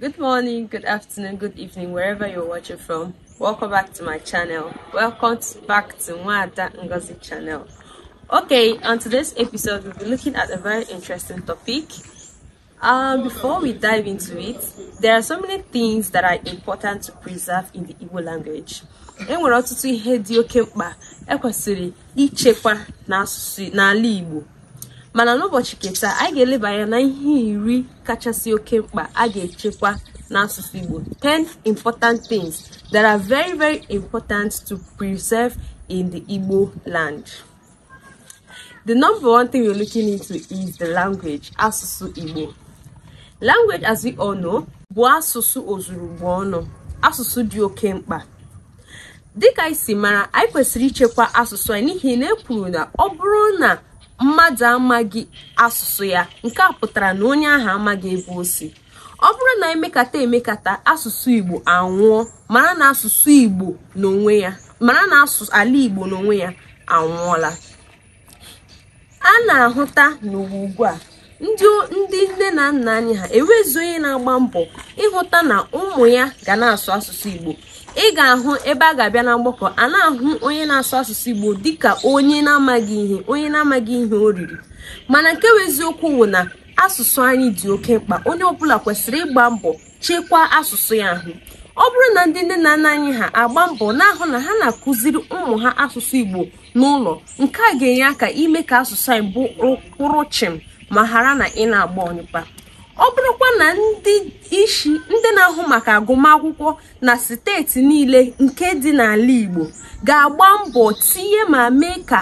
Good morning, good afternoon, good evening, wherever you're watching from. Welcome back to my channel. Welcome back to Mwada Ngozi channel. Okay, on today's episode, we'll be looking at a very interesting topic. Um, before we dive into it, there are so many things that are important to preserve in the Igbo language. e nwere ọtụtụ ihe dị oke mkpa ekwesịrị ichekwa n'ala Igbo mana n'ụbọchị ke taa anyị ga-eleba anya na ihe iri kachasị oke mkpa a ga-echekwa n'asụsụ Igbo 10 important things that are very very important to preserve in the Igbo land. The number one thing we're looking into is the language asụsụ Igbo. Language as we all know bụ asụsụ ozuru Igbo ọnụ asụsụ dị oke mkpa dịka anyị si mara anyị kwesịrị ichekwa asụsụ anyị n'ihi na e kwuru na ọ bụrụ na mmadụ amaghị asụsụ ya nke a pụtara na onye ahụ amaghị ebe o si ọ bụrụ na e mekata e mekata asụsụ igbo anwụọ mara na asụsụ igbo n'onwe ya mara na ala igbo n'onwe ya anwụọla a na-ahụta n'ụwa ugbu a ndị ndị nne na nna anyị ha enwezi onye na-agba mbọ ịhụta na ụmụ ya ga na-asụ asụsụ Igbo ị ga-ahụ ebe a ga-abịa na mgbakọ a na-ahụ onye na-asụ asụsụ Igbo dịka onye na-amaghị ihe onye na-amaghị ihe o riri mana nke bụ eziokwu bụ na asụsụ anyị dị oke mkpa onye ọbụla kwesịrị ịgba mbọ chekwaa asụsụ ya ahụ ọ bụrụ na ndị nne na nna anyị ha agba mbọ na-ahụ na ha na-akụziri ụmụ ha asụsụ Igbo n'ụlọ nke a ga-enye aka ime ka asụsụ anyị bụ kwụrụ chịm ma ghara na ị na-agba ọnyụkpa ọ bụrụkwa na ndị isi ndị na-ahụ maka agụmakwụkwọ na steeti niile nke dị n'ala Igbo ga-agba mbọ tinye ma mee ka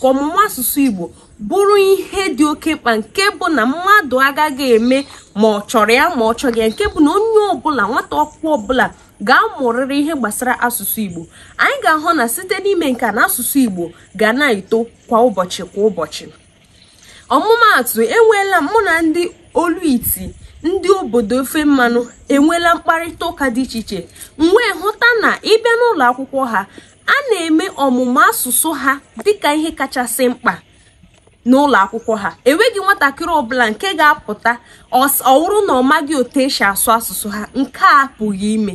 ọmụmụ asụsụ Igbo bụrụ ihe dị oke mkpa nke bụ na mmadụ agaghị eme ma ọ chọrọ ya ma ọ chọghị ya nke bụ na onye ọbụla nwata akwụkwọ ọbụla ga-amụrịrị ihe gbasara asụsụ Igbo anyị ga-ahụ na site n'ime nke na asụsụ Igbo ga na-eto kwa ụbọchị kwa ụbọchị ọmụmaatụ enweela mụ na ndị olu iti ndị obodo ofe mmanụ enweela mkparịta ụka dị iche iche m wee hụta na ị bịa n'ụlọ akwụkwọ ha a na-eme ọmụmụ asụsụ ha dịka ihe kachasị mkpa n'ụlọ akwụkwọ ha enweghị nwatakịrị ọbụla nke ga-apụta ọ wụrụ na ọ maghị otu e si asụ asụsụ ha nke a apụghị ime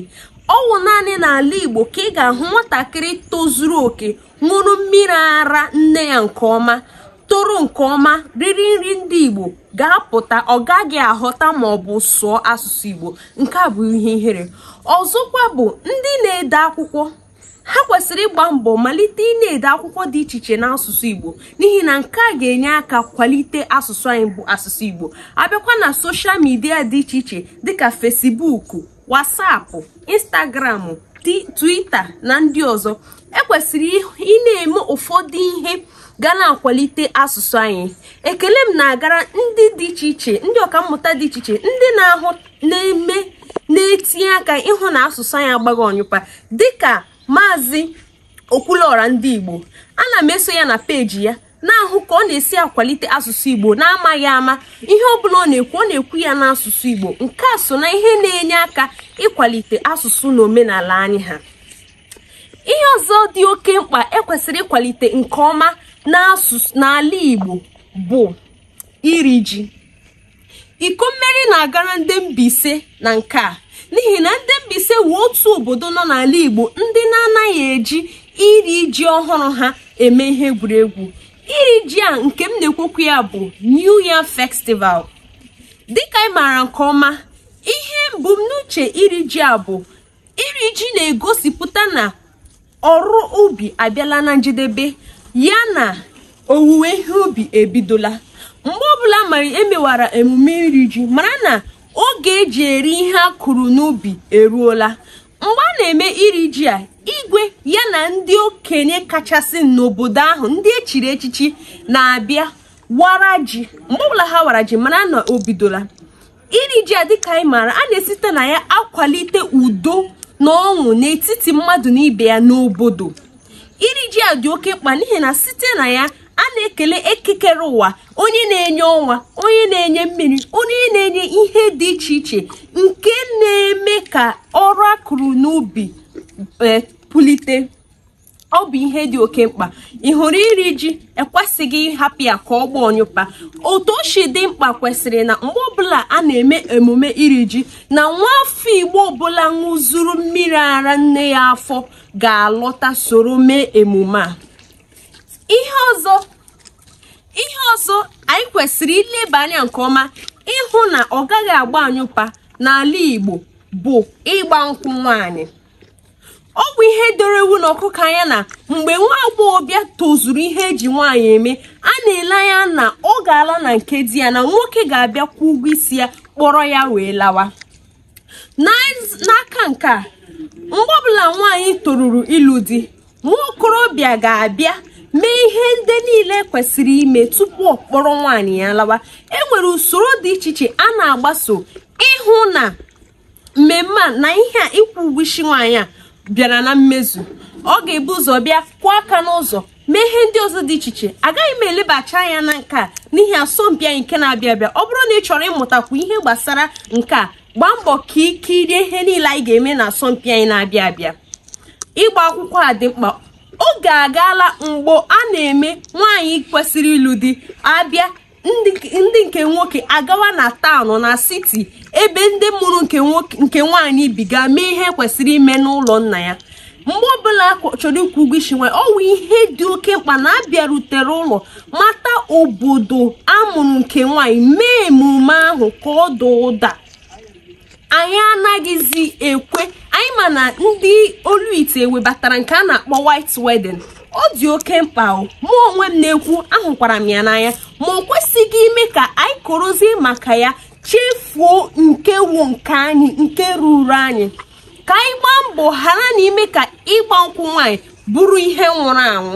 ọ wụ naanị n'ala Igbo ka ị ga-ahụ nwatakịrị tozuru oke ṅụrụ mmiri ara nne ya nke ọma toro nke ọma riri nri ndị Igbo ga-apụta ọ gaghị aghọta ma ọ bụ sụọ asụsụ Igbo nke a bụ ihe ihere ọzọkwa bụ ndị na-ede akwụkwọ ha kwesịrị ịgba mbọ malite ị na-ede akwụkwọ dị iche iche n'asụsụ Igbo n'ihi na nke a ga-enye aka kwalite asụsụ anyị bụ asụsụ Igbo a bịakwa na social media dị iche iche dịka Facebook WhatsApp Instagram Twitter na ndị ọzọ e kwesịrị ị na-eme ụfọdụ ihe ga na-akwalite asụsụ anyị ekele m na-agara ndị dị iche iche ndị ọkammụta dị iche iche ndị na-ahụ na-eme na-etinye aka ịhụ na asụsụ anyị agbaghị ọnyụpa dịka maazị okwuluọra ndị igbo ana m eso ya na peji ya na-ahụ ka ọ na-esi akwalite asụsụ igbo na-amaghị ama ihe ọ bụla ọ na-ekwu ọ na-ekwu ya n'asụsụ igbo nke a so na ihe na-enye aka ịkwalite asụsụ na omenala anyị ha ihe ọzọ dị oke mkpa ekwesịrị ịkwalite nke ọma n'ala igbo bụ iri ji iko mmeri na-agara ndị Mbaise na nke a n'ihi na ndị Mbaise wụ otu obodo nọ n'ala Igbo ndị na-anaghị eji iri ji ọhụrụ ha eme ihe egwuregwu iri ji a nke m na-ekwu okwu ya bụ New Yam Festival dịka anyị maara nke ọma ihe mbumnuche iri ji a bụ iri ji na-egosipụta na ọrụ ubi abịala na njedebe ya na owuwe ihe ubi ebidola mgbe ọbụla mara emewara emume iri ji mara na oge eji eri ihe a kụrụ n'ubi eruola mgbe a na-eme iri ji a igwe ya na ndị okenye kachasị n'obodo ahụ ndị echiri echichi na-abịa wara ji mgbe ọbụla ha wara ji mara na o bidola iri ji a dịka anyị maara a na-esite na ya akwalite udo na ọṅụ n'etiti mmadụ na ibe ya n'obodo iri ji a dị oke mkpa n'ihi na site na ya a na-ekele eke kere ụwa onye na-enye ọnwa onye na-enye mmiri onye na-enye ihe dị iche iche nke na-eme ka ọrụ a kụrụ n'ubi eh, pulite ọ bụ ihe dị oke mkpa ị hụrụ iri ji ekwesịghị ịhapụ ya ka ọ gbaa ọnyụpa otu o si dị mkpa kwesịrị na mgbe ọbụla a na-eme emume iri ji na nwa afọ igbo ọbụla ṅụzuru mmiri ara nne ya afọ ga-alọta soro mee emume a ihe ọzọ anyị kwesịrị ileba anya nke ọma ịhụ na ọ gaghị agba anyụpa n'ala igbo bụ ịgba nkwụ nwaanyị ọ bụ ihe doro ewu na ọkụkọ anya na mgbe nwa agbọghọbịa tozuru ihe eji nwaanyị eme a na-ele anya na ọ ga-ala na nke di ya na nwoke ga-abịa kwụọ ụgwọ isi ya kpọrọ ya wee lawa n'aka nke a mgbe ọbụla nwaanyị toruru ịlụ di nwa okorobịa ga-abịa mee ihe ndị niile kwesịrị ime tupu ọ kpọrọ nwaanyị ya lawa e nwere usoro dị iche iche a na-agbaso ịhụ na mmemme a na ihe a ịkwụ ụgwọ isi nwaanyị a bịara na mmezu ọ ga-ebu ụzọ bịa kụọ aka n'ụzọ mee ihe ndị ọzọ dị iche iche agaghị m elebacha anya na nke a n'ihi asọmpi anyị nke na-abịa abịa ọ bụrụ na ị chọrọ ịmụtakwu ihe gbasara nke a gbaa mbọ ka i kirie ihe niile anyị ga-eme na asọmpi anyị na-abịa abịa ịgba akwụkwọ a dị mkpa oge agaala mgbe a na-eme nwaanyị kwesịrị ịlụ di abịa ndị nke nwoke agawa na town na city ebe ndị mụrụ nke nwaanyị bi gaa mee ihe kwesịrị ime n'ụlọ nna ya mgbe ọbụla a chọrọ ịkwụ ụgwọ isi nwa ọ wụ ihe dị oke mkpa na a bịarutere ụlọ mata obodo a mụrụ nke nwaanyị mee emume ahụ ka ọ daa ụda anyị anaghịzi ekwe anyị ma na ndị olu ite webatara nke a na-akpọ white wedding ọ dị oke mkpa o mụ onwe m na-ekwu ahụkwara m ya n'anya ma o kwesịghị ime ka anyị korozie maka ya chefuo nke wụ nke anyị nke ruru anyị ka anyị gbaa mbọ ghara na ime ka ịgba nkwụ nwaanyị bụrụ ihe nwụrụ anwụ